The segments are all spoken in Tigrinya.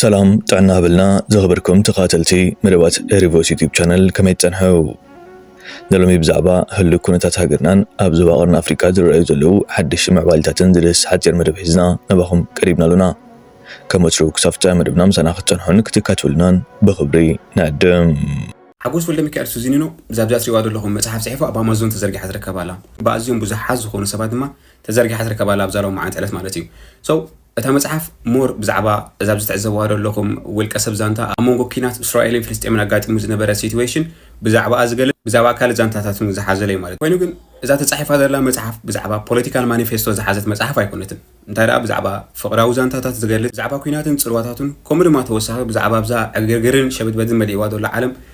ሰላም ጥዕና ሃበልና ዝኸበርኩም ተኸታተልቲ መደባት ኤሪ ቮይስ ዩቲዩብ ቻነል ከመይ ትጸንሑ? ንሎሚ ብዛዕባ ህሉው ኩነታት ሃገርናን ኣብ ዞባ ቀርኒ ኣፍሪቃ ዝረኣዩ ዘለዉ ሓደሽቲ ምዕባሊታትን ዝድህስ ሓጺር መደብ ሒዝና ናባኹም ቀሪብና ኣሎና። ከም ወትሩ ክሳብ ፍጻሜ መደብና ምሳና ክትጸንሑን ክትካትብሉናን ብኽብሪ ንዕድም። ሓጎስ ወልደሚካኤል ሱዚኒኖ እዛ ኣብዚኣ ትሪእዋ ዘለኹም መጽሓፍ ጽሒፉ ኣብ ኣማዞን ተዘርጊሓ ትርከብ ኣላ። ብኣዝዮም ብዙሓት ዝኾኑ ሰባት ድማ ተዘርጊሓ ትርከብ ኣላ ኣብዛ ሎማዓንቲ ዕለት ማለት እዩ። So እታ መጽሓፍ ሞር ብዛዕባ እዛ ኣብዚ ትዕዘብዋ ዘለኹም ውልቀ ሰብ ዛንታ ኣብ መንጎ ኲናት እስራኤልን ፍልስጤምን ኣጋጢሙ ዝነበረ ሲትዌሽን ብዛዕባኣ ዝገልጽ ብዛዕባ ካልእ ዛንታታት ውን ዝሓዘለ እዩ ማለት እዩ። ኮይኑ ግን እዛ ተጻሒፋ ዘላ መጽሓፍ ብዛዕባ ፖለቲካል ማኒፌስቶ ዝሓዘት መጽሓፍ ኣይኮነትን እንታይ ደኣ ብዛዕባ ፍቕራዊ ዛንታታት ዝገልጽ ብዛዕባ ኲናትን ጽልዋታቱን ከምኡ ድማ ተወሳኺ ብዛዕባ ኣብዛ ዕግርግርን ሸበድበድን መሊእዋ ዘሎ ዓለም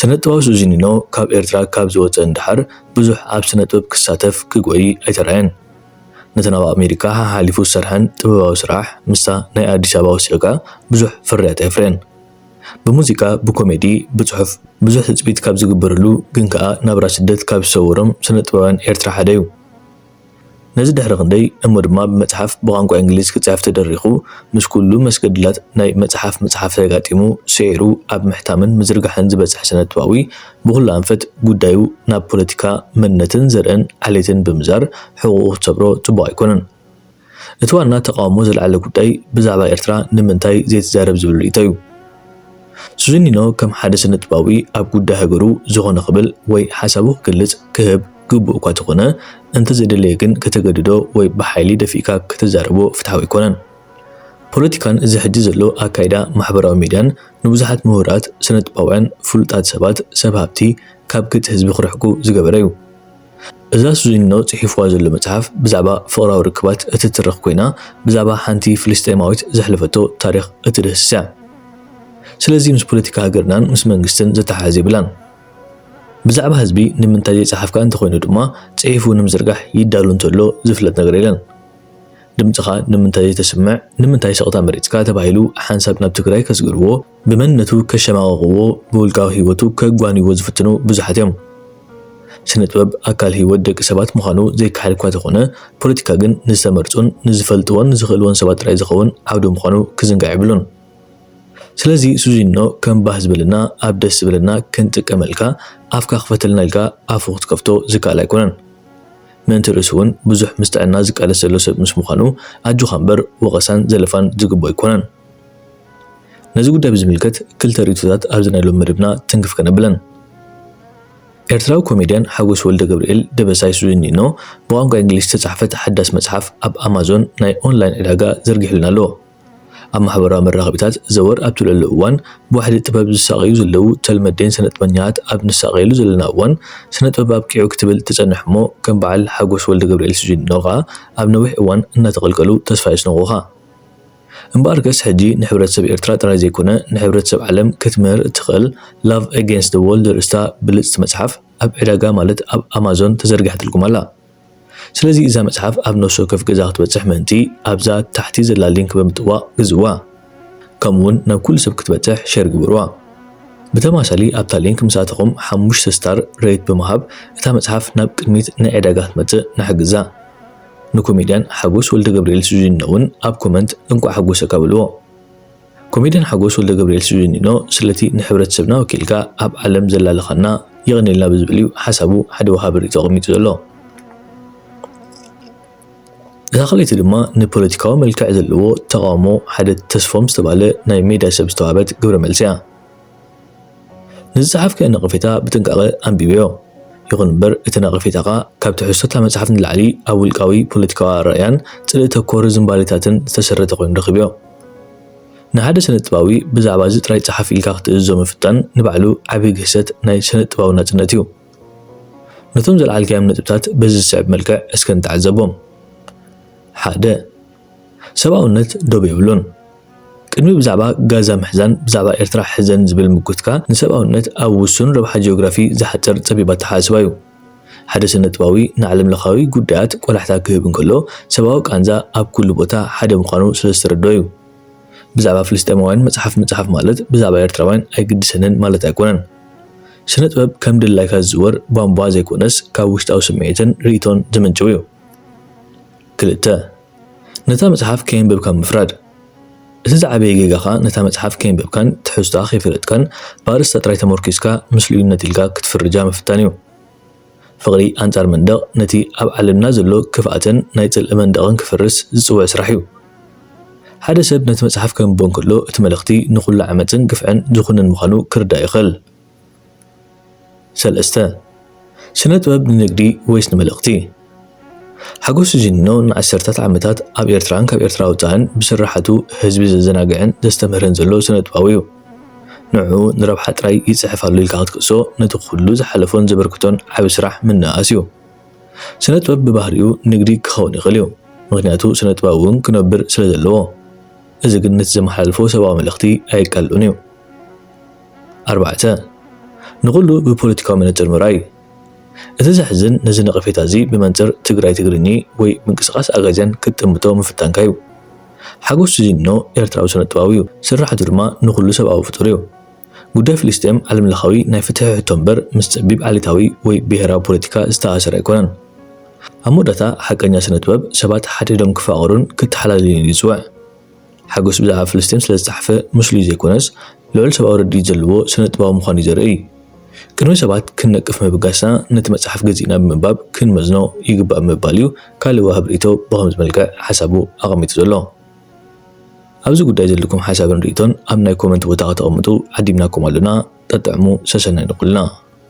ስነጥበባዊ ሱዚኒኖ ካብ ኤርትራ ካብ ዝወጸ ንደሓር ብዙሕ ኣብ ስነጥበብ ክሳተፍ ክጎዪ ኣይተራእየን። ነተን ኣብ ኣሜሪካ ሓሓሊፉ ዝሰርሐን ጥበባዊ ስራሕ ምስታ ናይ ኣዲስ ኣበባ ወሲኽካ ብዙሕ ፍርያት ኣየፍረየን። ብሙዚቃ፣ ብኮሜዲ፣ ብጽሑፍ ብዙሕ ትጽቢት ካብ ዝግበረሉ ግን ከኣ ናብራ ስደት ካብ ዝሰወሮም ስነጥበባውያን ኤርትራ ሓደ'ዩ። ነዚ ድሕሪ ክንደይ እሞ ድማ ብመጽሓፍ ብቋንቋ እንግሊዝ ክጽሕፍ ተደሪኹ፣ ምስ ኩሉ መስገድላት ናይ መጽሓፍ ምጽሓፍ ተጋጢሙ ስዒሩ ኣብ ምሕታምን ምዝርጋሕን ዝበጽሕ ስነጥበባዊ ብኹሉ ኣንፈት ጉዳዩ ናብ ፖለቲካ መንነትን ዘርእን ዓሌትን ብምዛር ሕቑኡ ክትሰብሮ ጽቡቕ ኣይኮነን። እቲ ዋና ተቓውሞ ዘልዓለ ጉዳይ ብዛዕባ ኤርትራ ንምንታይ ዘይትዛረብ ዝብል ርእይቶዩ። ሱዚኒኖ ከም ሓደ ስነጥበባዊ ኣብ ጉዳይ ሃገሩ ዝኾነ ክብል ወይ ሓሳቡ ክግልጽ ክህብ፣ ግቡእ እኳ ተኾነ፣ እንተዘይደለየ ግን ከተገድዶ ወይ ብሓይሊ ደፊእካ ከተዛርቦ ፍትሓዊ ኣይኮነን። ፖለቲካን እዚ ሕጂ ዘሎ ኣካይዳ ማሕበራዊ ሚድያን ንብዙሓት ምሁራት፣ ስነጥበባውያን፣ ፍሉጣት ሰባት፣ ሰብ ሃብቲ ካብ ገጽ ህዝቢ ክርሕቁ ዝገበረ እዩ። እዛ ሱዚኒኖ ጽሒፍዋ ዘሎ መጽሓፍ ብዛዕባ ፍቕራዊ ርክባት እትትርኽ ኮይና ብዛዕባ ሓንቲ ፍልስጤማዊት ዘሕለፈቶ ታሪኽ እትድህስስ እያ። ስለዚ ምስ ፖለቲካ ሃገርናን ምስ መንግስትን ዘተሓሕዝ የብላን። ብዛዕባ ህዝቢ ንምንታይ ዘይጸሓፍካ እንተኾይኑ ድማ ጽሒፉ ንምዝርጋሕ ይዳሎ እንተሎ ዝፍለጥ ነገር የለን። ድምጽኻ ንምንታይ ዘይተስምዕ ንምንታይ ስቕታ መሪጽካ ተባሂሉ ሓንሳብ ናብ ትግራይ ከስግርዎ ብመንነቱ ከሸማቕቕዎ ብውልቃዊ ህይወቱ ከጓንይዎ ዝፍትኑ ብዙሓት እዮም። ስነጥበብ ኣካል ህይወት ደቂ ሰባት ምዃኑ ዘይከሓድ እኳ ተኾነ ፖለቲካ ግን ንዝተመርጹን ንዝፈልጥዎን ዝኽእልዎን ሰባት ጥራይ ዝኸውን ዓውዲ ምዃኑ ክዝንጋዕ የብሉን። ስለዚ ሱዚኖ ከም ባህ ዝበለና ኣብ ደስ ዝበለና ክንጥቀመልካ ኣፍካ ክፈተልና ኢልካ ኣፉ ክትከፍቶ ዝከኣል ኣይኮነን ምእንቲ ርእሱ ውን ብዙሕ ምስ ጥዕና ዝቃለስ ዘሎ ሰብ ምስ ምዃኑ ኣጆኻ እምበር ወቐሳን ዘለፋን ዝግብኦ ኣይኮነን ነዚ ጉዳይ ብዝምልከት ክልተ ርእይቶታት ኣብዚ ናይ ሎሚ መደብና ትንክፍ ከነብለን ኤርትራዊ ኮሜድያን ሓጎስ ወልደገብርኤል ደበሳይ ሱዚኒኖ ብቋንቋ ኢንግሊሽ ዝተጻሕፈት ሓዳስ መጽሓፍ ኣብ ኣማዞን ናይ ኦንላይን ዕዳጋ ዘርጊሑልና ኣሎ። ኣብ ማሕበራዊ መራኸቢታት ዘወር ኣብ ትብለሉ እዋን፣ ብዋሕዲ ጥበብ ዝሳቐዩ ዘለዉ ተልመዴን ሰነጥበኛታት ኣብ ንሳቐየሉ ዘለና እዋን፣ ስነጥበብ ኣብቂዑ ክትብል እተጸንሕ'ሞ ከም በዓል ሓጎስ ወልደገብርኤል ሲጂኖ ከኣ ኣብ ነዊሕ እዋን እናተቐልቀሉ ተስፋ የስንቑኻ። እምበኣርከስ ሕጂ ንሕብረተሰብ ኤርትራ ጥራይ ዘይኮነ ንሕብረተሰብ ዓለም ክትምህር እትኽእል Love Against the World ዘርእስታ ብልጽቲ መጽሓፍ ኣብ ዕዳጋ ማለት ኣብ ኣማዞን ተዘርጊሓትልኩም ኣላ። ስለዚ እዛ መጽሓፍ ኣብ ነፍሲ ወከፍ ገዛ ክትበጽሕ ምእንቲ ኣብዛ ታሕቲ ዘላ ሊንክ ብምጥዋቕ ግዝእዋ። ከምኡ ውን ናብ ኩሉ ሰብ ክትበጽሕ ሼር ግበርዋ። ብተማሳሊ ኣብታ ሊንክ ምስ ኣተኹም ሓሙሽተ ስታር ረይት ብምሃብ እታ መጽሓፍ ናብ ቅድሚት ናይ ዕዳጋ ክትመጽእ ንሓግዛ። ንኮሜድያን ሓጎስ ወልደገብርኤል ሱዚኖ ውን ኣብ ኮመንት እንቋዕ ሓጎሰካ በልዎ። ኮሜድያን ሓጎስ ወልደገብርኤል ሲዙኒኖ ስለቲ ንሕብረተሰብና ወኪልካ ኣብ ዓለም ዘላለኻና የቐንየልና ብዝብል እዩ ሓሳቡ ሓደ ወሃቢ ሪኢቶ ኣቐሚጡ ዘሎ። እታ ካልኣይቲ ድማ ንፖለቲካዊ መልክዕ ዘለዎ ተቓውሞ ሓደ ተስፎም ዝተባህለ ናይ ሜድያ ሰብ ዝተዋህበት ግብረ መልሲ እያ። ንዝጸሓፍካዮ ነቐፌታ ብጥንቃቐ ኣንብብዮ። ይኹን እምበር፣ እቲ ነቐፌታኻ ካብ ትሕዝቶ እታ መጽሓፍ ንላዕሊ ኣብ ውልቃዊ ፖለቲካዊ ኣረኣእያን ጽልኢ ተኮር ዝንባሌታትን ዝተሰረተ ኮይኑ ረኺበዮ። ንሓደ ስነጥበባዊ ብዛዕባ እዚ ጥራይ ጽሓፍ ኢልካ ክትእዝዞ ምፍታን ንባዕሉ ዓቢ ግህሰት ናይ ስነጥበባዊ ናጽነት እዩ። ነቶም ዘልዓልካዮም ነጥብታት በዚ ዝስዕብ መልክዕ እስከ ንተዓዘቦም። ሓደ። ሰብኣውነት ዶብ የብሉን። ቅድሚ ብዛዕባ ጋዛ ምሕዛን ብዛዕባ ኤርትራ ሕዘን ዝብል ምጉትካ ንሰብኣውነት ኣብ ውሱን ረብሓ ጂኦግራፊ ዝሓጽር ጸቢብ ኣተሓሳስባ'ዩ። ሓደ ስነጥባዊ ንዓለምለኻዊ ጉዳያት ቆላሕታ ክህብ እንከሎ ሰብኣዊ ቃንዛ ኣብ ኩሉ ቦታ ሓደ ምዃኑ ስለ ዝተረድኦ'ዩ። ብዛዕባ ፍልስጤማውያን መጽሓፍ ምጽሓፍ ማለት ብዛዕባ ኤርትራውያን ኣይግድሰንን ማለት ኣይኮነን። ስነጥበብ ከም ድላይካ ዝዝወር ቧንቧ ዘይኮነስ ካብ ውሽጣዊ ስምዒትን ርእይቶን ዝምንጭው'ዩ። ክልተ፣ ነታ መጽሓፍ ከየንበብካ ምፍራድ። እቲ ዝዓበየ ጌጋ ከኣ ነታ መጽሓፍ ከየንበብካን ትሕዝቶኣ ከይፈለጥካን ብኣርእስታ ጥራይ ተመርኲስካ ምስሉይነት ኢልካ ክትፍርጃ ምፍታን እዩ። ፍቕሪ ኣንጻር መንደቕ ነቲ ኣብ ዓለምና ዘሎ ክፍኣትን ናይ ጽልኢ መንደቕን ክፈርስ ዝጽውዕ ስራሕ እዩ። ሓደ ሰብ ነቲ መጽሓፍ ከንብቦ እንከሎ እቲ መልእኽቲ ንኹሉ ዓመጽን ግፍዕን ዝኹንን ምዃኑ ክርዳእ ይኽእል። ሰለስተ፣ ስነ ጥበብ ንንግዲ ወይስ ንመልእኽቲ? ሓጎስ ጂኒኖ ንዓሰርተታት ዓመታት ኣብ ኤርትራን ካብ ኤርትራ ወጻእን ብስርሓቱ ህዝቢ ዘዘናግዕን ዘስተምህርን ዘሎ ስነ ጥበባዊ'ዩ። ንዕኡ ንረብሓ ጥራይ ይጽሕፍ ኣሎ ኢልካ ክትክእሶ ነቲ ኩሉ ዝሓለፎን ዘበርክቶን ዓቢ ስራሕ ምንእኣስ'ዩ። ስነ ጥበብ ብባህሪኡ ንግዲ ክኸውን ይኽእል'ዩ ምኽንያቱ ስነ ጥበብ'ውን ክነብር ስለ ዘለዎ። እዚ ግን ነቲ ዘመሓላልፎ ሰብኣዊ መልእኽቲ ኣየቃልሎን'ዩ። ኣርባዕተ፣ ንኹሉ ብፖለቲካዊ መነጽር ምርኣይ እዩ። እቲ ዘሕዝን ነዚ ነቐፌታ እዚ ብመንጽር ትግራይ ትግርኚ ወይ ምንቅስቓስ ኣጋዚያን ክትጥምቶ ምፍታንካ እዩ። ሓጎስ ሲዚኖ ኤርትራዊ ስነጥበባዊ እዩ። ስርሓቱ ድማ ንኹሉ ሰብኣዊ ፍጡር እዩ። ጉዳይ ፍልስጤም ዓለምለኻዊ ናይ ፍትሒ ሕቶ እምበር ምስ ጸቢብ ዓሌታዊ ወይ ብሄራዊ ፖለቲካ ዝተኣሳሰረ ኣይኮነን። ኣብ መወዳእታ ሓቀኛ ስነጥበብ ሰባት ሓድሕዶም ክፋቐሩን ክተሓላለዩን እዩ ዝጽውዕ። ሓጎስ ብዛዕባ ፍልስጤም ስለ ዝተጻሕፈ ምስሉይ ዘይኮነስ ልዑል ሰብኣዊ ርድኢት ዘለዎ ስነ-ጥበባዊ ምዃኑ'ዩ ዘርእይ። ቅድሚ ሰባት ክንነቅፍ ምብጋስና ነቲ መጽሓፍ ገዚእና ብምንባብ ክንመዝኖ ይግባእ ብምባል'ዩ ካልእ ወሃብ ርእይቶ ብኸምዚ መልክዕ ሓሳቡ ኣቐሚጡ ዘሎ። ኣብዚ ጉዳይ ዘለኩም ሓሳብን ርእይቶን ኣብ ናይ ኮመንት ቦታ ከተቐምጡ ዓዲምናኩም ኣሎና ጠጥዕሙ ሰሰናዩ ንኹልና።